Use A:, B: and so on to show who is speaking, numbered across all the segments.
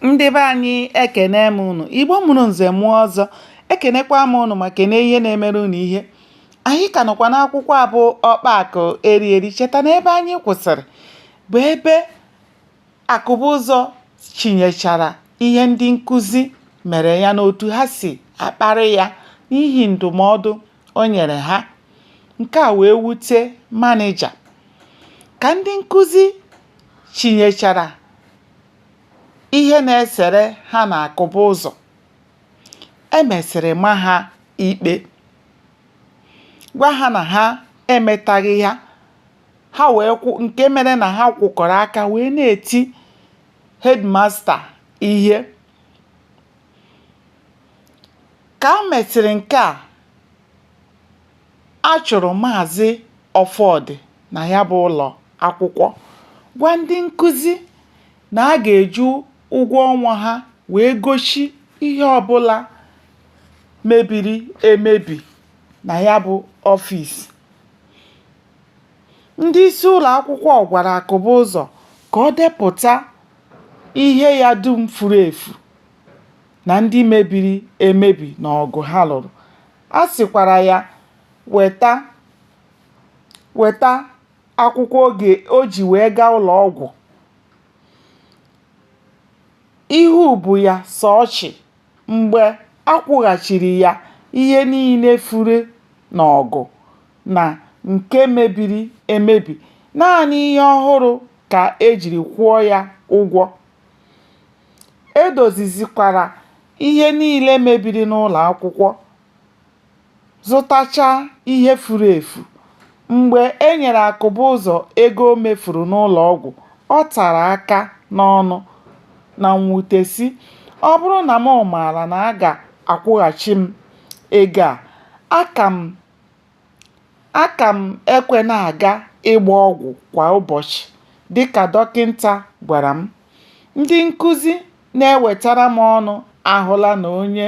A: ndị be anyị ekene m unu igbo mụrụ nze mụọ ọzọ ekenekwa m unu ma kene ihe na-emere unu ihe anyị ka nọkwa n'akwụkwọ abụ ọkpa akụ eri eri cheta na ebe anyị kwụsịrị bụ ebe akụbụzọ chinyechara ihe ndị nkụzi mere ya n'otu ha si akparị ya n'ihi ndụmọdụ o nyere ha nke a wee wute manija ka ndị nkụzi chinyechara ihe na-esere ha na akụbụzọ e mesịrị ma ha ikpe gwa ha na ha emetaghị ya ha wee kwụ nke mere na ha kwụkọrọ aka wee na-eti headmaster ihe Ka o mesịrị nke a, a chụrụ Maazị Ọfọdụ na ya bụ ụlọ akwụkwọ, gwa ndị nkuzi na a ga-eji ụgwọ ọnwa ha wee gochie ihe ọ bụla mebiri emebi na ya bụ ọfịs. Ndị isi ụlọ akwụkwọ gwara Akụbụzọ ka o depụta ihe ya dum furu efu. na ndị mebiri emebi n'ọgụ ha lụrụ. A sịkwara ya weta akwụkwọ oge o ji wee gaa ụlọ ọgwụ ihu bụ ya sọ ọchị mgbe a kwụghachiri ya ihe niile furu n'ọgụ na nke mebiri emebi. Naanị ihe ọhụrụ ka e jiri kwụọ ya ụgwọ. E dozizikwara ihe niile mebiri n'ụlọ akwụkwọ, zụtachaa ihe furu efu. Mgbe e nyere Akụbụzọ ego o mefuru n'ụlọ ọgwụ, ọ tara aka n'ọnụ na mwute sị, “Ọ bụrụ na m maara na a ga-akwụghachi m ego a, aka m Aka m ekwe na-aga ịgba ọgwụ kwa ụbọchị dị ka dọkịta gwara m. Ndị nkụzi na-ewetara m ọnụ ahụla na onye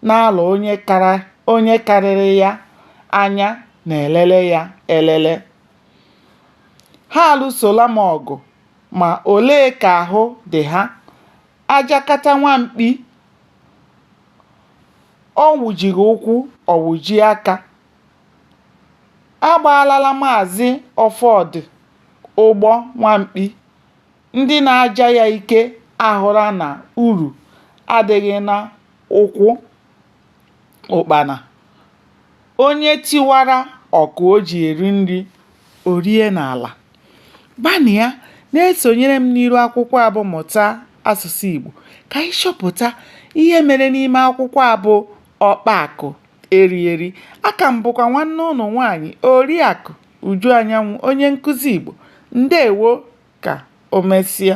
A: na-alọ onye karịrị ya anya na-elele ya elele. Ha alụsola m ọgụ, ma olee ka ahụ dị ha? A jakata nwa mkpi ọ wụjighị ụkwụ ọ wụjie aka a gbaalala maazị ọfọdụ ụgbọ nwamkpi ndị na-aja ya ike ahụla na uru adịghị n'ụkwụ ụkpana Onye tiwara ọkụ o ji eri nri, o rie n'ala. Gbanịa na-esonyere m n'iru akwụkwọ a bụ Mụta Asụsụ Igbo ka anyị chọpụta ihe mere n'ime akwụkwọ a bụ Ọkpa Akụ Eri Eri. Aka m bụkwa nwanne unu nwaanyị Oriakụ Uju Anyanwụ, onye nkụzi Igbo. Ndewo ka o mesịa.